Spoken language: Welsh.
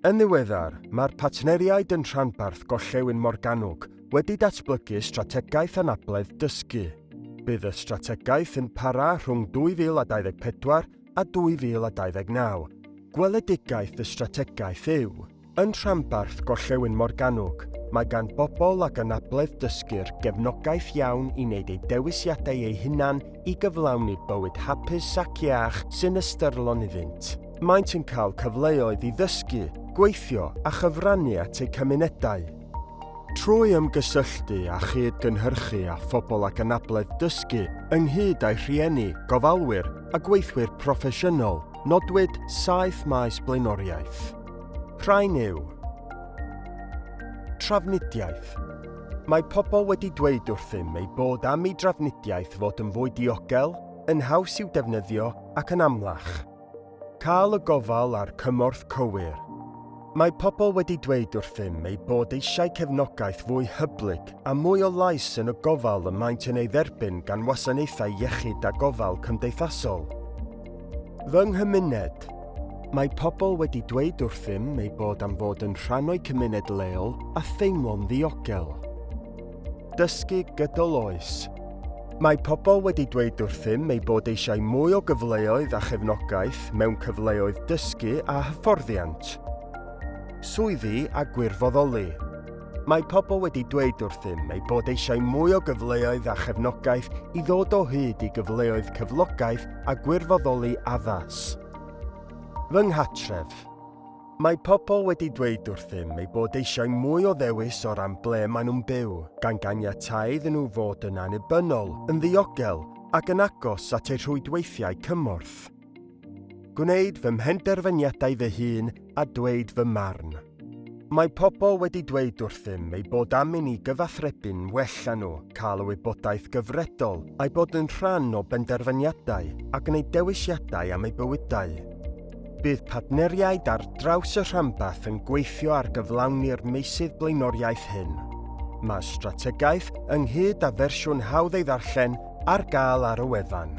Yn ddiweddar, mae'r partneriaid yn rhanbarth Gorllewin Morgannwg wedi datblygu strategaeth anabledd dysgu. Bydd y strategaeth yn para rhwng 2024 a 2029. Gweledigaeth y strategaeth yw Yn rhanbarth Gorllewin Morgannwg, mae gan bobl ag anabledd dysgu'r gefnogaeth iawn i wneud eu dewisiadau eu hunain i gyflawni bywyd hapus ac iach sy'n ystyrlon iddynt. Maent yn cael cyfleoedd i ddysgu, gweithio a chyfrannu at eu cymunedau. Trwy ymgysylltu a chyd-gynhyrchu â phobl ag anabledd dysgu, ynghyd â'u rhieni, gofalwyr a gweithwyr proffesiynol, nodwyd saith maes blaenoriaeth. Rhain yw. Trafnidiaeth. Mae pobl wedi dweud wrthym eu bod am i drafnidiaeth fod yn fwy diogel, yn haws i'w defnyddio ac yn amlach. Cael y gofal a'r cymorth cywir. Mae pobl wedi dweud wrthym eu bod eisiau cefnogaeth fwy hyblyg a mwy o lais yn y gofal y maent yn ei dderbyn gan wasanaethau iechyd a gofal cymdeithasol. Fy nghymuned. Mae pobl wedi dweud wrthym eu bod am fod yn rhan o'u cymuned leol a theimlo'n ddiogel. Dysgu gydol oes. Mae pobl wedi dweud wrthym eu bod eisiau mwy o gyfleoedd a chefnogaeth mewn cyfleoedd dysgu a hyfforddiant, swyddi a gwirfoddoli. Mae pobl wedi dweud wrthym eu bod eisiau mwy o gyfleoedd a chefnogaeth i ddod o hyd i gyfleoedd cyflogaeth a gwirfoddoli addas. Fy nghartref. Mae pobl wedi dweud wrthym eu bod eisiau mwy o ddewis o ran ble maen nhw'n byw, gan ganiatáu iddyn nhw fod yn annibynnol, yn ddiogel ac yn agos at eu rhwydweithiau cymorth. Gwneud fy mhenderfyniadau fy hun a dweud fy marn. Mae pobl wedi dweud wrthym ei bod am i ni gyfathrebu'n well â nhw, cael y wybodaeth gyfredol, a'i bod yn rhan o benderfyniadau a gwneud dewisiadau am eu bywydau. Bydd partneriaid ar draws y rhanbarth yn gweithio ar gyflawni'r meysydd blaenoriaeth hyn. Mae strategaeth, ynghyd â fersiwn hawdd ei ddarllen, ar gael ar y wefan.